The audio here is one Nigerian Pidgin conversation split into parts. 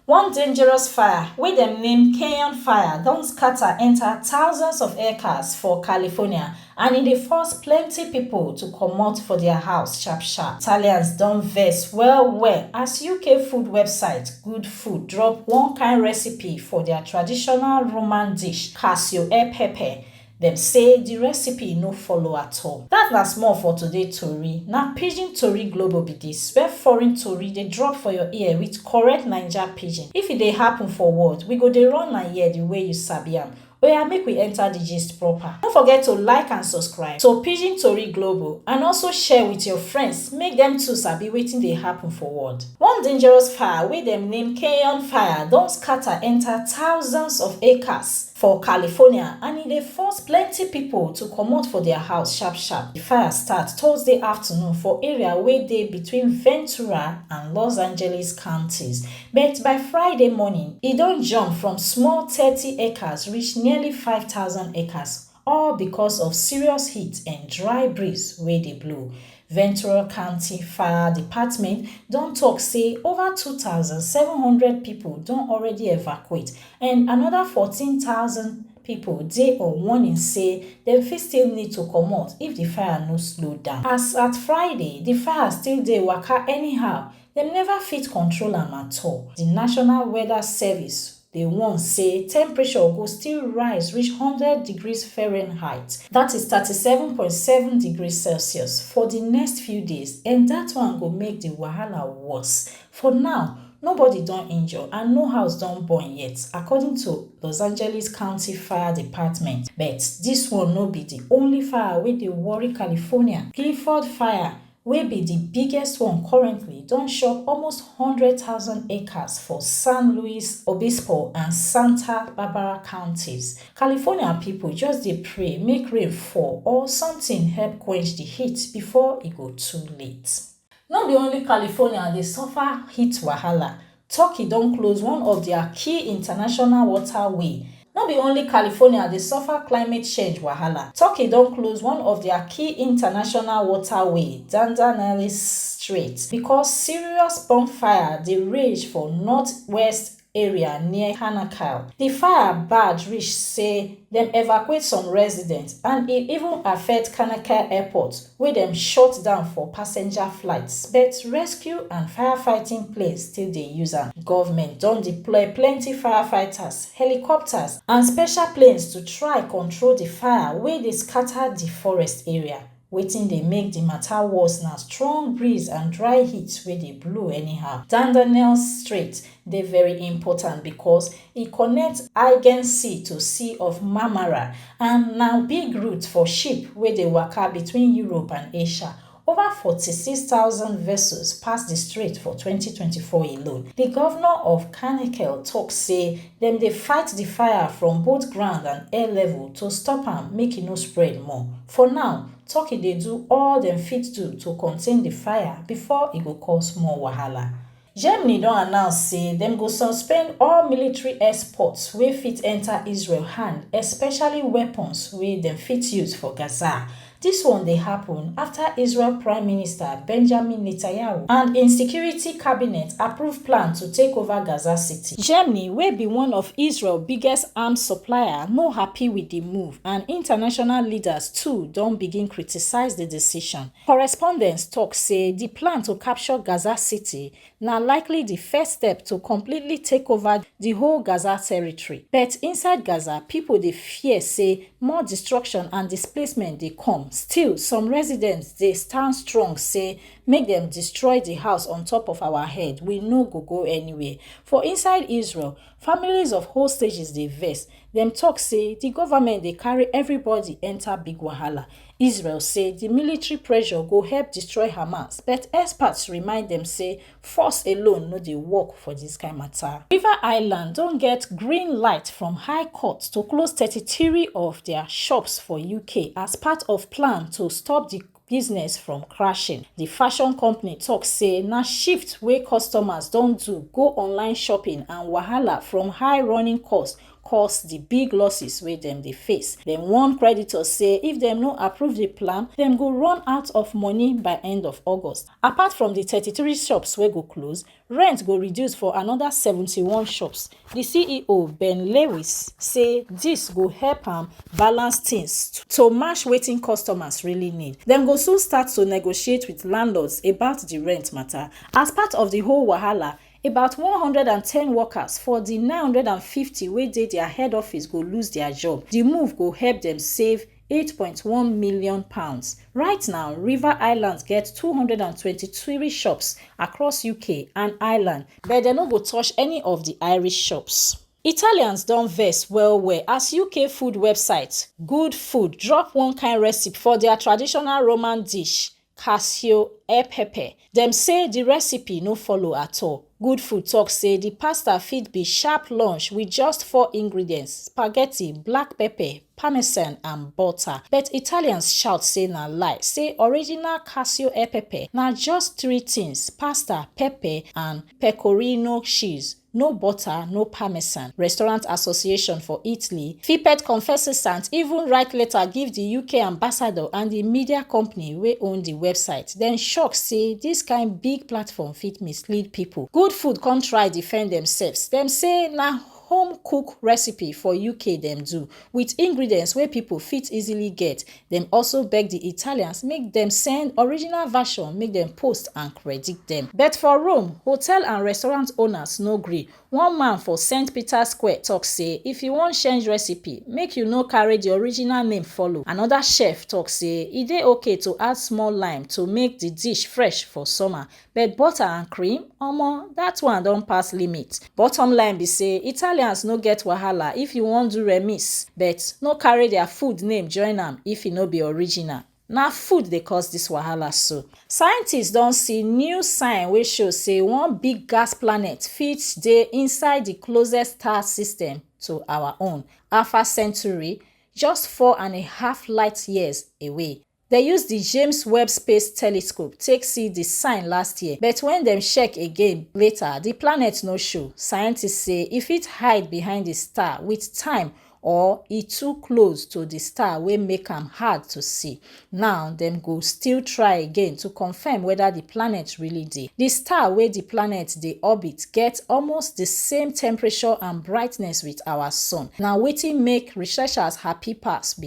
One dangerous fire wey dem name Canyon Fire don scatter enta thousands of hectares for California and e dey force plenty pipo to comot for dia house sharp sharp. Italians don vex well well as UK food website Good Food drop one kain recipe for dia traditional Roman dish, cassio e pepe, Dem say di recipe no follow at all. Dat na small for today tori, na Pidgin Tori Global be dis, where foreign tori dey drop for your ear with correct Naija Pidgin. If e dey happen for world, we go dey run am here di way you sabi am. Oya make we enter di gist proper. No forget to like and subscribe to Pidgin Tori Global and also share with your friends make dem too sabi wetin dey happen for world. One dangerous fire wey dem name Keyon Fire don scatter enter thousands of acres. for California and e dey force plenty pipo to comot for dia house sharp-sharp. Di fire start Thursday afternoon for area wey dey between Ventura and Los Angeles counties, but by Friday morning, e don jump from small thirty acres reach nearly five thousand acres, all because of serious heat and dry breeze wey dey blow. Ventura County Fire Department don tok say over two thousand, seven hundred pipo don already evacuate and anoda fourteen thousand pipo dey on warning say dem fit still need to comot if di fire no slow down. As at Friday, di fire still dey waka anyhow, dem neva fit control am at all, di National Weather Service, Dey warn say temperature go still rise reach one hundred degrees Fahrenheit, dat is thirty seven point seven degrees Celsius, for di next few days and dat one go make di wahala worse. For now, nobody don injure and no house don burn yet, according to Los Angeles County Fire Department. But dis one no be di only fire wey dey worry California. Clifford Fire, wey be di biggest one currently, don chop almost one hundred thousand acres for San Luis Obispo and Santa Barbara counties. California pipo just dey pray make rain fall or sometin help quench di heat before e go too late. No be only California dey suffer heat wahala, Turkey don close one of dia key international water way. No be only California dey suffer climate change wahala, Turkey don close one of dia key international water way, Dardanelles Strait, because serious bonfire dey rage for northwest area near Hanakil. Di fire bad reach say dem evacuate some residents and e even affect Hanakil airport, wey dem shut down for passenger flights but rescue and firefighting planes still dey use am. Government don deploy plenty firefighters, helicopters and special planes to try control di fire wey dey scatter di forest area. Wetin dey make di mata worse na strong breeze and dry heat wey dey blow anyhow. Dardanelles Strait dey very important because E connect Aigen Sea to Sea of Marmara and na big route for ship wey dey waka between Europe and Asia. Over forty six thousand vessels pass di strait for twenty twenty four alone. Di govnor of Karnikel tok say dem dey fight di fire from both ground and air level to stop am make e no spread more. For now, Turkey dey do all dem fit do to contain di fire before e go cause more wahala. Germany don announce say dem go suspend all military exports wey fit enta Israel hand, especially weapons wey dem fit use for Gaza. Dis one dey happun afta Israel Prime Minister Benjamin Netanyahu and im security cabinet approve plan to take over Gaza City. Germany, wey be one of Israel biggest arms supplier, no happy wit di move and international leaders too don begin criticise di decision. Correspondents tok say di plan to capture Gaza City na likely di first step to completely take over di whole Gaza territory. But inside Gaza, pipo dey fear say more destruction and displacement dey come. Still, some residents dey stand strong say make dem destroy di house on top of our head, we no go go anywhere. For inside Israel, Families of hostages dey vex, dem tok say di goment dey carry everybody enta big wahala. Israel say di military pressure go help destroy Hamas, but experts remind dem say force alone no dey work for dis kain mata. River Island don get green light from High Court to close thirty three of dia shops for UK as part of plan to stop di business from crashing. Di fashion company tok say na shift wey customers don do go online shopping and wahala from high running costs cause di big losses wey dem dey face. Dem warn creditors say if dem no approve di plan, dem go run out of money by end of August. Apart from di thirty three shops wey go close, Rent go reduce for anoda seventy one shops, di ceo Ben Lewis say dis go help am balance tins to match wetin customers really need. Dem go soon start to negotiate wit landlords about di rent mata as part of di whole wahala, about one hundred and ten workers for di nine hundred and fifty wey dey dia head office go lose dia job, di move go help dem save eight point one million pounds right now river island get two hundred and twenty three shops across uk and ireland but dem no go touch any of di irish shops. Italians don vex well well as UK food website Good Food drop one kind recipe for dia traditional Roman dish Casio E Pepe. Dem say di recipe no follow at all. Good Food tok say di pasta fit be sharp lunch wit just four ingredients, spaghetti, black pepper, parmesan and butter. But Italians shout say na lie, say original Casio E Pepe na just three tins, pasta, pepper and pecorino cheese. no butter no parmesan restaurant association for italy fipet confessesant even write letter give di uk ambassador and di media company wey own di website dem shock say dis kain big platform fit mislead pipo good food come try defend demsefs dem say na home cook recipe for uk dem do Wit ingredients wey pipo fit easily get, dem also beg di Italians make dem send original version make dem post and credit dem. But for Rome, hotel and restaurant owners no gree. One man for St. Peter's Square tok say if you wan change recipe, make you no carry di original name follow. Anoda chef tok say e dey okay to add small lime to make di dish fresh for summer, But butter and cream? Omo, that one don pass limit. Bottom line be say Italians no get wahala if you wan do remix, but no carry their food name join am if e no be original. Na food dey cause this wahala so. Scientists don see new sign wey show say one big gas planet fit dey inside the closest star system to our own, Alpha Centauri, just four and a half light years away. Dem use di James Webb Space Telescope take see di sign last year, but wen dem check again later, di planet no show. Scientists say e fit hide behind di star wit time or e too close to di star wey make am hard to see. Now, dem go still try again to confirm whether di planet really dey. Di star wey di planet dey orbit get almost di same temperature and brightness wit our sun. Na wetin make researchers happy pass be.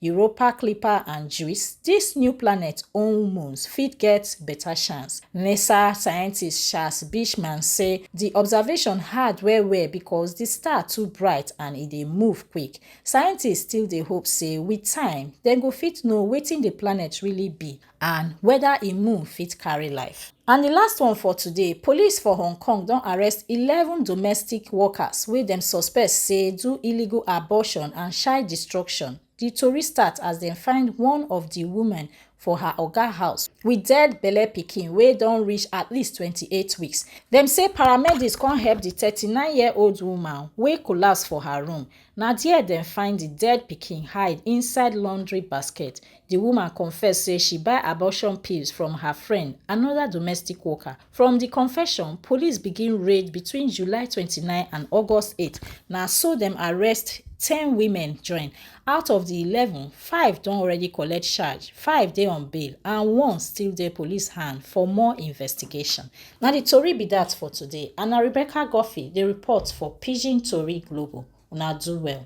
Europa Clipper and JUICE, dis new planet own moons fit get beta chance. NASA scientist Charles Beechman say di observation hard well well because di star too bright and e dey move quick. Scientists still dey hope say with time, dem go fit know wetin di planet really be and weda im mum fit carry life. And di last one for today, police for Hong Kong don arrest eleven domestic workers wey dem suspect say do illegal abortion and child destruction. Di tori start as dem find one of di women for her oga house with dead belle pikin wey don reach at least twenty eight weeks. Dem say paramedics come help di thirty nine year old woman wey collapse for her room Na there dem find di dead pikin hide inside laundry basket. Di woman confess say she buy abortion pills from her friend, another domestic worker. From di confession, police begin raid between July twenty nine and August eight, na so dem arrest ten women join. Out of di eleven, five don already collect charge, five dey on bail and one still dey police hand for more investigation. Na di tori be dat for today and na Rebecca Guffey dey report for Pidgin Tori Global, una do well.